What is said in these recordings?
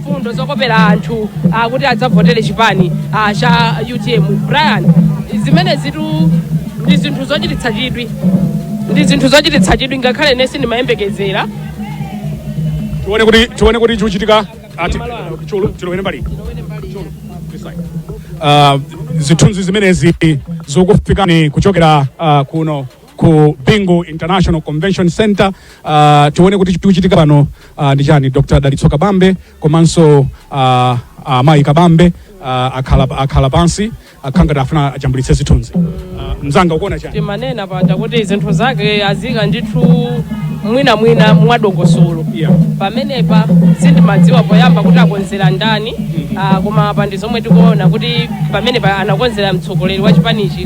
mfundo zokopera anthu ah, kuti adzavotere chipani ah, cha utm brian zimenezitu ndi zinthu zochititsa chidwi ndi zinthu zochititsa chidwi ngakhale ine sindimayembekezera tione kuti tione kuti chikuchitika tilowere mbali uh, zithunzi zimenezi zokufikani kuchokera uh, kuno ku Bingu International Convention Center uh, tione kuti chikuchitika pano uh, ndi chani Dr. Dalitso Kabambe komanso uh, amayi Kabambe uh, akhala, akhala pansi akhala ngati afuna ajambulitse zithunzi uh, mzanga ukuona chani timanena paja kuti zinthu zake aziika ndithu mwinamwina mwadongosolo yeah. pamenepa sindimadziwa poyamba kuti akonzera ndani ah, koma apa ndi zomwe tikuona kuti pamenepa anakonzera mtsogoleri wa chipanichi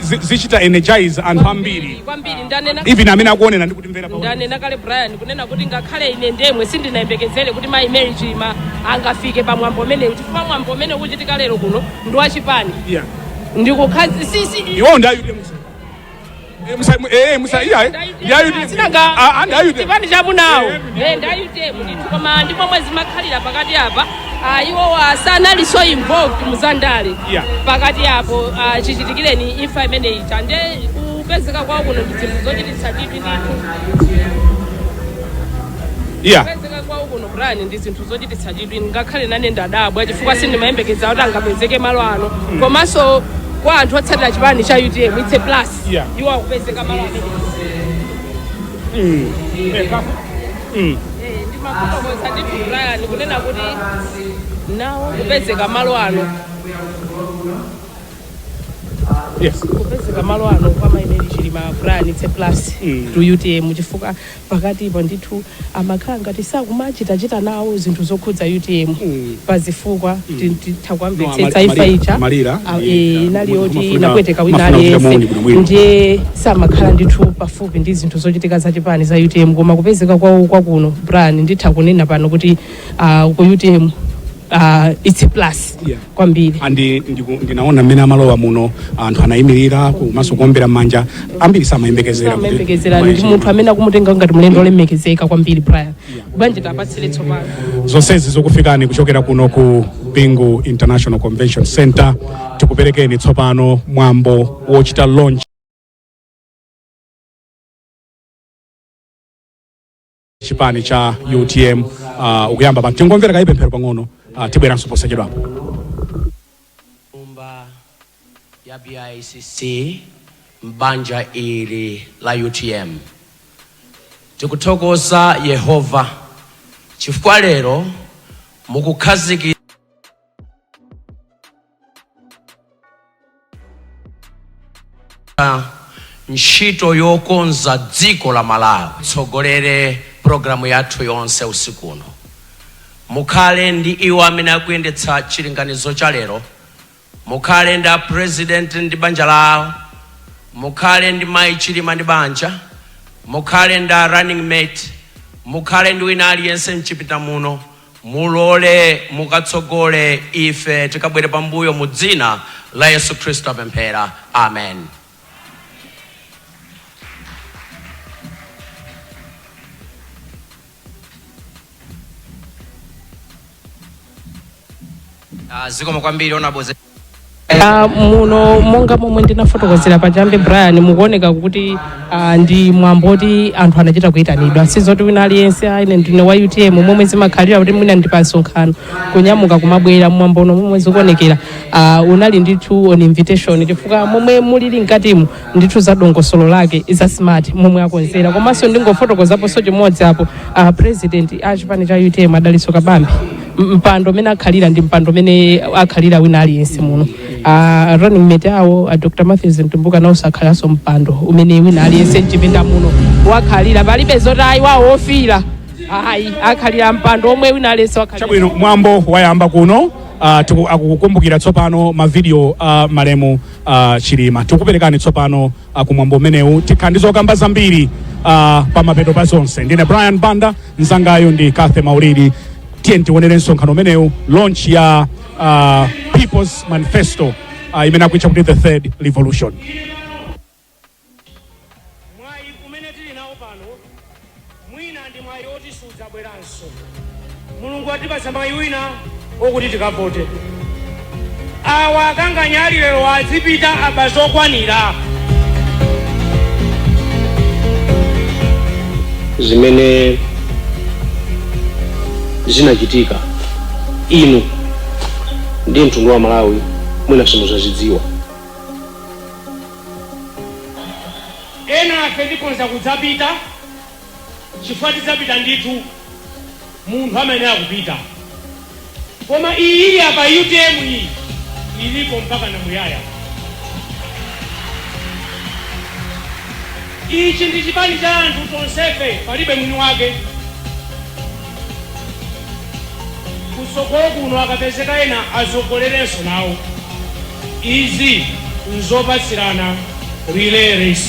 zi- zichita energize anthu ambiri kwambiri ndanena even amene akuonera ndi kutimvera pa ndanena kale brian kunena kuti ngakhale ine ndemwe sindinayembekezere kuti mayi mary chilima angafike pa mwambo umenewu chifukwa mwambo umene ukuchitika lero kuno ndi wachipani Yeah. ndikukhazikitsa iwo ndi ayude musa Eh, musa eh musa iya eh ndi ayude ah ah, ndi ayude chipani cha amunawo Eh, ndi ayude. ndi a utm ndithu koma ndi momwe zimakhalira pakati apa Ah, iwowa sanali so involved muzandale Yeah. pakati apo ah, chichitikireni imfa imeneyi chande kupezeka kwawo kuno ndi zinthu zochititsa chidwi ndithu iya kupezeka kwawo kuno brian ndi zinthu zochititsa chidwi ngakhale nane ndadabwa chifukwa sindimayembekeza kuti angapezeke malo ano komanso kwa anthu otsatira chipani cha utm its a plus Yeah. iwowa kupezeka malo amene Mm. Eh, ndimakufotokozera ndithu Brian kunena kuti nawo kupezeka malo ano Yes. kupezeka malo ano kwa mai mary chilima Brian it's a plus Mm. to utm chifukwa pakatipo ndithu amakhala ngati sakumachitachita nawo zinthu zokhudza utm Mm. pazifukwa titha kuwamvetsetsa imfa ija a- eh, inali yoti inapweteka wina aliyense ndiye samakhala ndithu pafupi ndi zinthu zochitika za chipani za utm koma kupezeka kwawo kwakuno brian nditha kunena pano kuti ah, ku utm ah, its a plus Yeah. kwambiri and ndiku- ndinaona mmene amalowa muno anthu anayimirira komanso kuombera mmanja ambiri samayembekezera kuti- samayembekezera ndi munthu amene akumutenga ngati mlendo olemekezeka kwambiri brian bwanji tipatsire tsopano zonsezi zokufikani kuchokera kuno ku bingu international convention center tikuperekeni tsopano mwambo wochita launch chipani cha utm uh, ukuyamba pano tingomvera kaye pemphero pang'ono uh, tibweranso posachedwapo ya BICC m'banja ili la utm. Tikuthokoza Yehova chifukwa lero mukukhazikitsa ntchito yokonza dziko la Malawi. Tsogolere programu yathu yonse usiku uno, mukhale ndi iwo amene akuyendetsa chilinganizo cha lero Mukhale ndi a president ndi banja lawo, mukhale ndi mayi Chilima ndi banja, mukhale ndi a running mate, mukhale ndi wina aliyense mchipinda muno, mulole mukatsogole ife tikabwere pambuyo mu dzina la Yesu Khristu tapemphera. Amen. Ah, zikomo kwambiri honorables Ah, muno monga momwe ndinafotokozera pachiyambi brian mukuoneka kuti ah, ndi mwambo oti anthu anachita kuyitanidwa sizoti wina aliyense ah, ine ndine wa utm momwe zimakhalira kuti mwina ndi pa msonkhano kunyamuka kumabwera mwambo uno momwe zikuonekera uh, unali ndithu on invitation chifukwa momwe mulili mkatimu ndithu za dongosolo lake za smart momwe akonzera komanso ndingofotokozaponso chimodzi apo uh, president a chipani cha utm a Dalitso Kabambe M- mpando umene akhalira ndi mpando umene akhalira wina aliyense muno uh, running mate awo uh, dr matthews mtumbuka nawonso akhalanso mpando umene wina aliyense mchipinda muno wakhalira palibe zoti ayi wawo ofira ayi akhalira mpando omwe wina aliyense wakhalira chabwino mwambo wayamba kuno ah, tiku- akukumbukira tsopano mavidiyo a malemu ah, chilima tikuperekani tsopano ah, kumwambo umenewu tikhala ndi zokamba zambiri ah, pa mapeto pa zonse ndine brian banda mzangayu ndi kathe maulidi tiyeni tiwonere msonkhano umenewu launch ya ah, people's manifesto ah, imene akuitcha kuti the third revolution Mwayi umene tili nawo pano mwina ndi mwayi oti sudzabweranso. Mulungu atipatsa mwayi wina okuti tikavote. Awa akanganya alilewa azipita aba zokwanira. zimene zinachitika inu ndi mtundu wa malawi mwina simuzazidziwa Enafe tikhonza kudzapita chifukwa tidzapita ndithu munthu amayenera kupita koma iyi ili apa utm iyi ilipo mpaka na muyaya ichi ndi chipani cha anthu tonsefe palibe mwini wake kutsogolo kuno akapezeka ena atsogolerenso nawo izi nzopatsirana relay race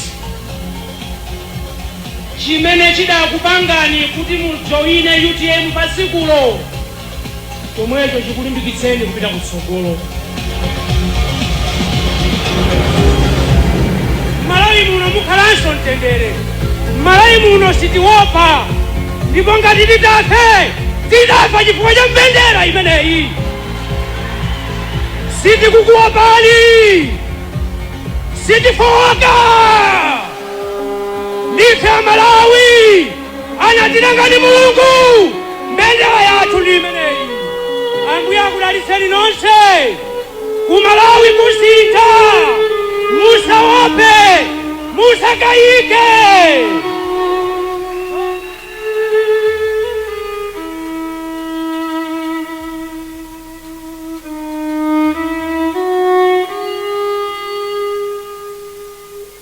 chimene chidakupangani kuti mujoine utm pa tsikulo chomwecho chikulimbikitseni kupita kutsogolo. M'Malawi muno mukhalanso mtendere. M'Malawi muno sitiopa, ndipo ngati titafe titafa chifukwa cha mbendera imeneyi. Sitikukuopani, sitifowoka, ndife Amalawi. anatilenga ni mulungu mbendera yathu ndi imeneyi ambuye akudalitseni nonse kumalawi kusintha musaope musakayike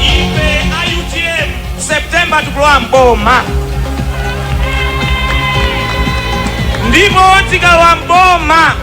ife a utm september tikulowa mboma ndipo tikalowa mboma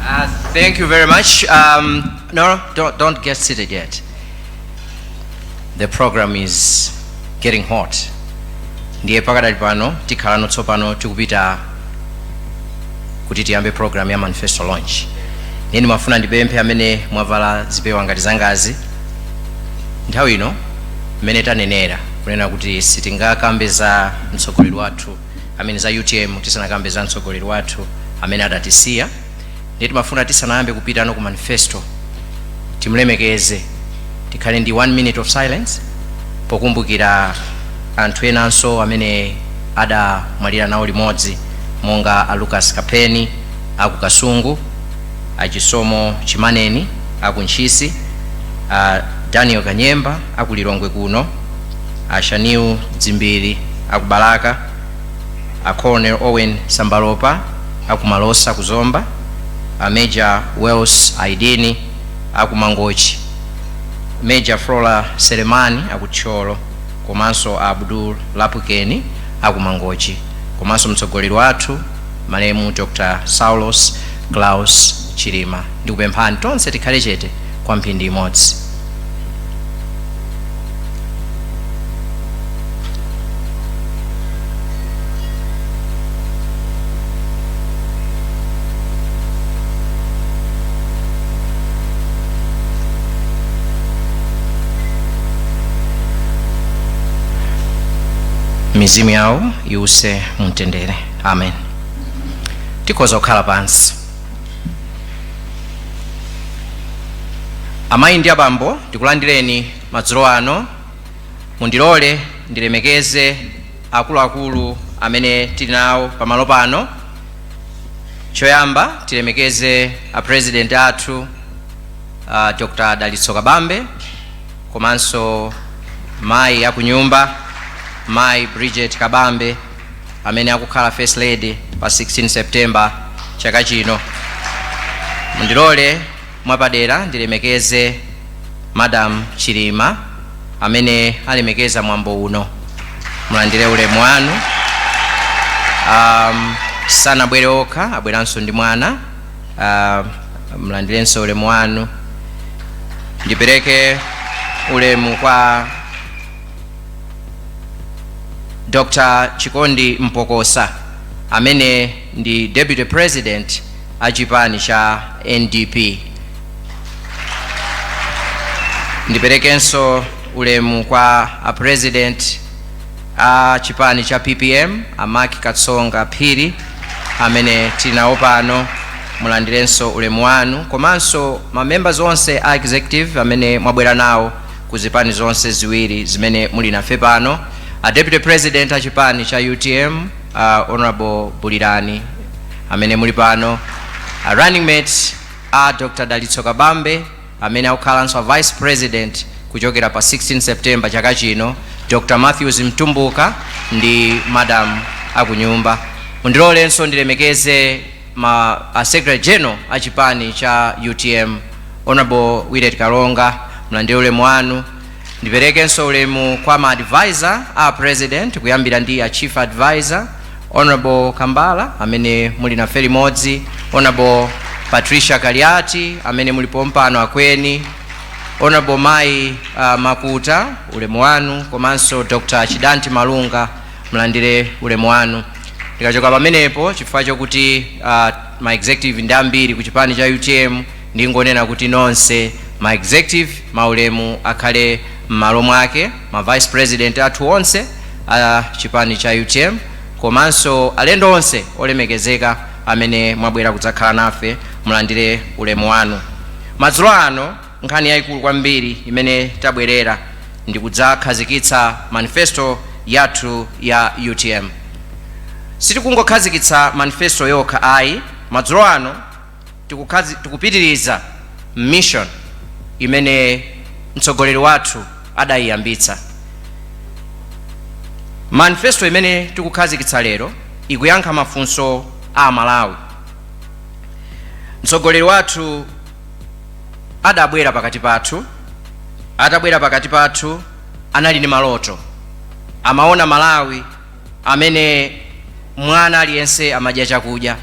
Uh, thank you very much. Um, no, don't, don't get seated yet. The program is getting hot. Ndiye pakadali pano tikhalano tsopano tikupita kuti tiyambe program ya manifesto launch. Ndiye ndimafuna ndipemphe amene mwavala zipewa ngati zangazi. Nthawi ino mmene tanenera kunena kuti sitingakambe za mtsogoleri wathu i mean za utm tisanakambe za mtsogoleri wathu amene adatisiya ndiye timafuna tisanayambe kupitano ku manifesto timlemekeze tikhale ndi one minute of silence pokumbukira anthu enanso amene adamwalira nawo limodzi monga a lucas kapheni aku kasungu a chisomo chimaneni aku ntchisi a daniel kanyemba aku lilongwe kuno A Shanil Dzimbiri aku Balaka, a Colonel Owen Sambalopa aku Malosa ku Zomba, a Major Wales Aidini aku Mangochi, Major Flora Selemani aku Thyolo komanso a Abdul Lapukeni aku Mangochi komanso mtsogoleri wathu malemu Dr. Saulos Klaus Chilima. Ndikupemphani tonse tikhale chete kwa mphindi imodzi. mizimu yawo iwuse mumtendere amen tikhoza kukhala pansi amayi ndi abambo ndikulandireni madzulo ano mundilole ndilemekeze akuluakulu amene tili nawo pamalo pano choyamba tilemekeze a president athu uh, dr dalitso kabambe komanso mayi akunyumba mayi bridget kabambe amene akukhala First Lady pa 16 September chaka chino. Mundilole mwapadera ndilemekeze Madam Chilima amene alemekeza mwambo uno. Mulandire ulemu wanu. Um, sanabwere okha abweranso ndi mwana uh, mulandirenso ulemu wanu ndipereke ulemu kwa dr chikondi mpokosa amene ndi deputy president a chipani cha ndp ndiperekenso ulemu kwa a president a chipani cha ppm a mark katsonga phiri amene tili nawo pano mulandirenso ulemu wanu komanso ma members onse a executive amene mwabwera nawo ku zipani zonse ziwiri zimene muli nafe pano, a Deputy President a chipani cha utm, a Honourable Bulirani amene muli pano, a running mate a Dr Dalitso Kabambe amene akukhalanso a Vice President kuchokera pa 16 September chaka chino, Dr Matthews Mtumbuka ndi Madam akunyumba. Mundilolenso ndilemekeze ma a secretary general a chipani cha utm Honourable Willet Kalonga mulandire ulemu wanu, ndiperekenso ulemu kwa ma advisor a a president kuyambira ndi a chief advisor Honourable Kambala amene muli nafe limodzi, Honourable Patricia Kaliati amene muli pompano akweni, Honourable mayi uh, Makuta ulemu wanu komanso Dr Chidanti Malunga mulandire ulemu wanu ndikachoka pamenepo chifukwa chokuti uh, ma executive ndi ambiri ku chipani cha utm ndingonena kuti nonse ma executive maulemu akhale m'malo mwake ma vice president athu onse a chipani cha utm komanso alendo onse olemekezeka amene mwabwera kudzakhala nafe mulandire ulemu wanu madzulo ano Nkhani yaikulu kwambiri imene tabwerera ndi kudzakhazikitsa manifesto yathu ya utm. Sitikungokhazikitsa manifesto yokha ayi, madzulo ano tikupitiriza mission imene mtsogoleri wathu adaiyambitsa. Manifesto imene tikukhazikitsa lero ikuyankha mafunso a Amalawi. Mtsogoleri wathu. adabwera pakati pathu atabwera pakati pathu anali ndi maloto amaona malawi amene mwana aliyense amadya chakudya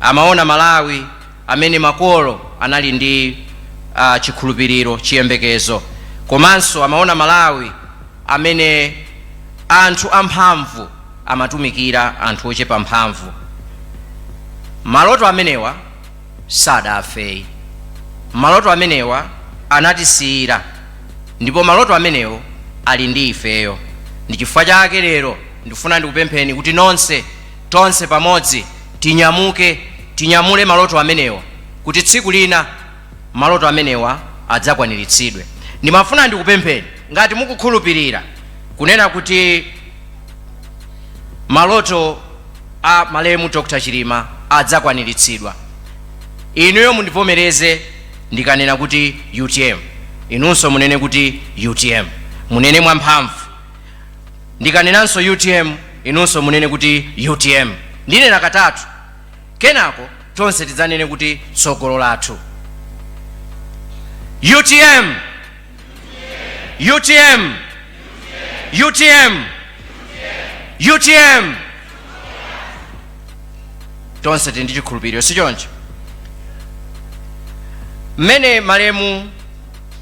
amaona malawi amene makolo anali ndi uh, chikhulupiriro chiyembekezo komanso amaona malawi amene anthu amphamvu amatumikira anthu ochepa mphamvu maloto amenewa sadafeyi maloto amenewa anatisiyira ndipo maloto amenewo ali ndi ifeyo ndi chifukwa chake lero ndifuna ndikupempheni kuti nonse tonse pamodzi tinyamuke tinyamule maloto amenewa kuti tsiku lina maloto amenewa adzakwaniritsidwe ndimafuna ndikupempheni ngati mukukhulupirira kunena kuti maloto a malemu Dr Chilima adzakwaniritsidwa. Inuyo mundivomereze ndikanena kuti utm, inunso munene kuti utm. Munene mwamphamvu. Ndikanenanso utm, inunso munene kuti utm. Ndinena katatu. Kenako tonse tidzanene kuti tsogolo lathu. Utm! utm utm utm tonse tili ndi chikhulupiriro si choncho mmene malemu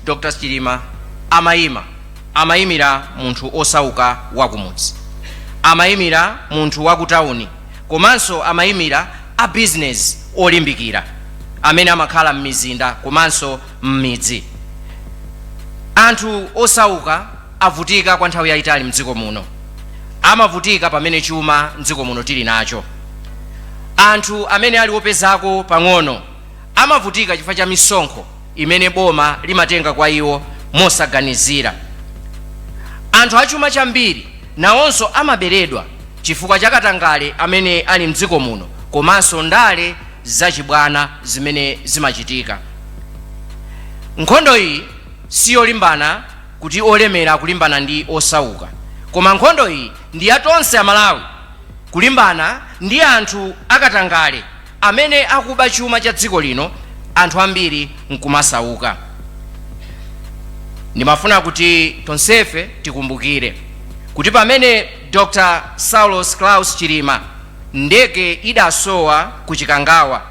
dr chilima amayima amayimira munthu osauka wakumudzi amayimira munthu wakutawuni komanso amayimira a bizinesi olimbikira amene amakhala m'mizinda komanso m'midzi. Anthu osauka avutika kwa nthawi yayitali mdziko muno. Amavutika pamene chuma mdziko muno tili nacho. Anthu amene ali opezako pang'ono amavutika chifukwa cha misonkho imene boma limatenga kwa iwo mosaganizira. Anthu achuma chambiri nawonso amaberedwa chifukwa cha katangale amene ali mdziko muno komanso ndale zachibwana zimene zimachitika. Nkhondo iyi si yolimbana kuti olemera akulimbana ndi osauka, koma nkhondo iyi ndi ya tonse Amalawi kulimbana ndi anthu akatangale amene akuba chuma cha dziko lino anthu ambiri n'kumasauka. Ndimafuna kuti tonsefe tikumbukire kuti pamene Dr. Saulos Klaus Chilima ndege idasowa ku Chikangawa,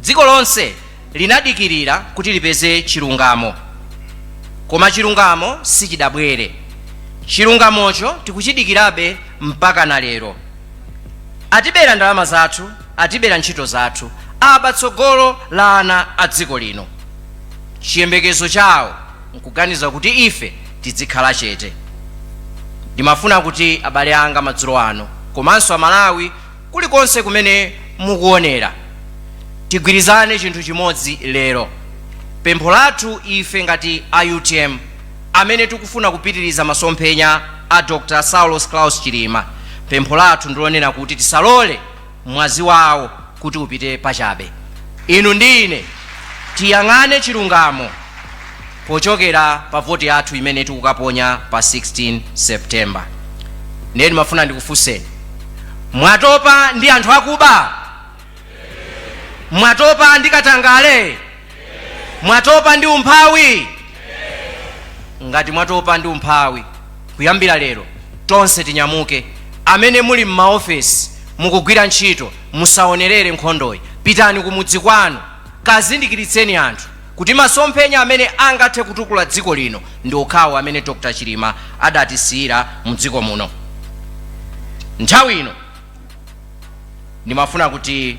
Dziko lonse linadikirira kuti lipeze chilungamo. Koma chilungamo sichidabwere. Chilungamocho tikuchidikirabe mpaka na lero. Atibera ndalama zathu, atibera ntchito zathu, aba tsogolo la ana a dziko lino. Chiyembekezo chawo n'kuganiza kuti ife tidzikhala chete. Ndimafuna kuti abale anga madzulo ano, komanso Amalawi Kulikonse kumene mukuwonera, tigwirizane chinthu chimodzi lero. Pempho lathu ife ngati a UTM amene tikufuna kupitiriza masomphenya a Dr Saulos Klaus Chilima, pempho lathu ndilonena kuti tisalole mwazi wawo kuti upite pachabe. Inu ndi ine tiyang'ane chilungamo. pochokera pa voti yathu imene tikukaponya pa 16 September. Ndiye ndimafuna ndikufunseni, mwatopa ndi anthu akuba? Mwatopa ndi katangale? Mwatopa ndi umphawi? Ngati mwatopa ndi umphawi, kuyambira lero tonse tinyamuke. Amene muli m'maofesi mukugwira ntchito, musaonerere nkhondoyi, pitani kumudzi kwanu, kazindikiritseni anthu kuti masomphenya amene angathe kutukula dziko lino ndi okhawo amene Dr Chilima adatisiyira mu dziko muno. Nthawi ino ndimafuna kuti